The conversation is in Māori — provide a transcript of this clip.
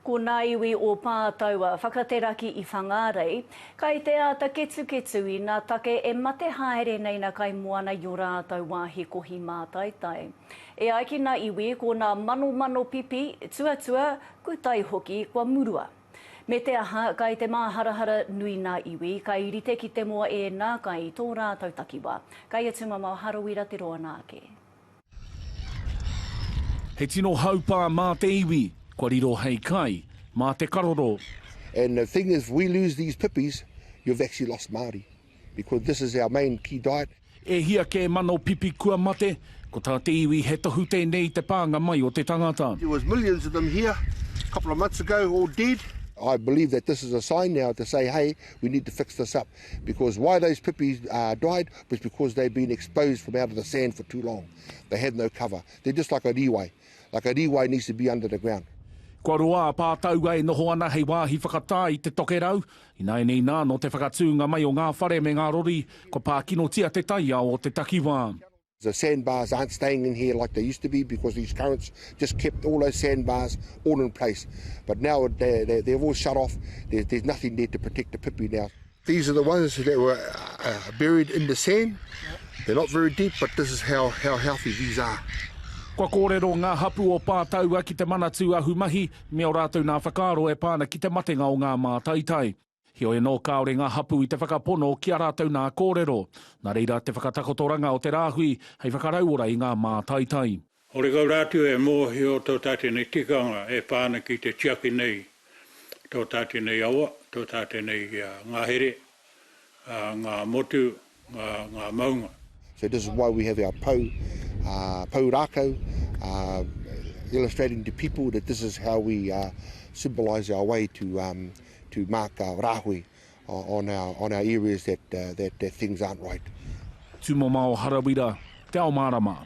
Ko nā iwi o Pā taua whakateraki i Whangārei, kai te āta ketuketu i nā take e mate haere nei nā kaimoana i o rātau wāhi kohi mātaitai. E ai ki nā iwi ko nā manomano pipi, tuatua, kutai hoki kua murua. Me te aha, kai te māharahara nui nā iwi, kai rite ki te moa ēnā kai i tō rātau takiwā, kai a Tumamao Harawira te roa nā ake. He tino haupā mā te iwi, kua riro hei kai, mā te karoro. And the thing is if we lose these pipis, you've actually lost Māori. Because this is our main key diet. E hia kē mano pipi kua mate, ko tā te iwi he tohu tēnei i te pānga mai o te tangata. There was millions of them here a couple of months ago all dead. I believe that this is a sign now to say, hey, we need to fix this up. Because why those pipis uh, died was because they've been exposed from out of the sand for too long. They have no cover. They're just like a riwai. Like a riwai needs to be under the ground. Kua roa a Pātaua e noho ana hei wāhi whakatā i te tokerau. Ināianei nā, nō te whakatūnga mai o ngā whare me ngā rori, kua pākinotia te taiao o te takiwā. The sandbars aren't staying in here like they used to be because these currents just kept all those sandbars all in place. But now they, they, they've all shut off, there, there's nothing there to protect the pipi now. These are the ones that were uh, uh, buried in the sand. They're not very deep, but this is how, how healthy these are. Kua kōrero ngā hapu o Pātaua ki te Manatū Ahumahi me o rātou nā whakaaro e pā ana ki te matenga o ngā mātaitai. Heoi anō kāore ngā hapū i te whakapono ki a rātou nā kōrero. Nā reira te whakatakotoranga o te rāhui hei whakarauora i ngā mātaitai. Horekau rā atu e mōhio tō tātou nei tikanga e pā ana ki te tiaki nei tō tātou nei awa, tō tātou nei ngahere, ngā motu, ngā maunga. So this is why we have our pou, uh, pou rākau, uh, illustrating to people that this is how we uh, symbolise our way to, um, to mark our rāhui on our, on our areas that, uh, that, that things aren't right. Tūmomao Harawira, Te Ao Mārama.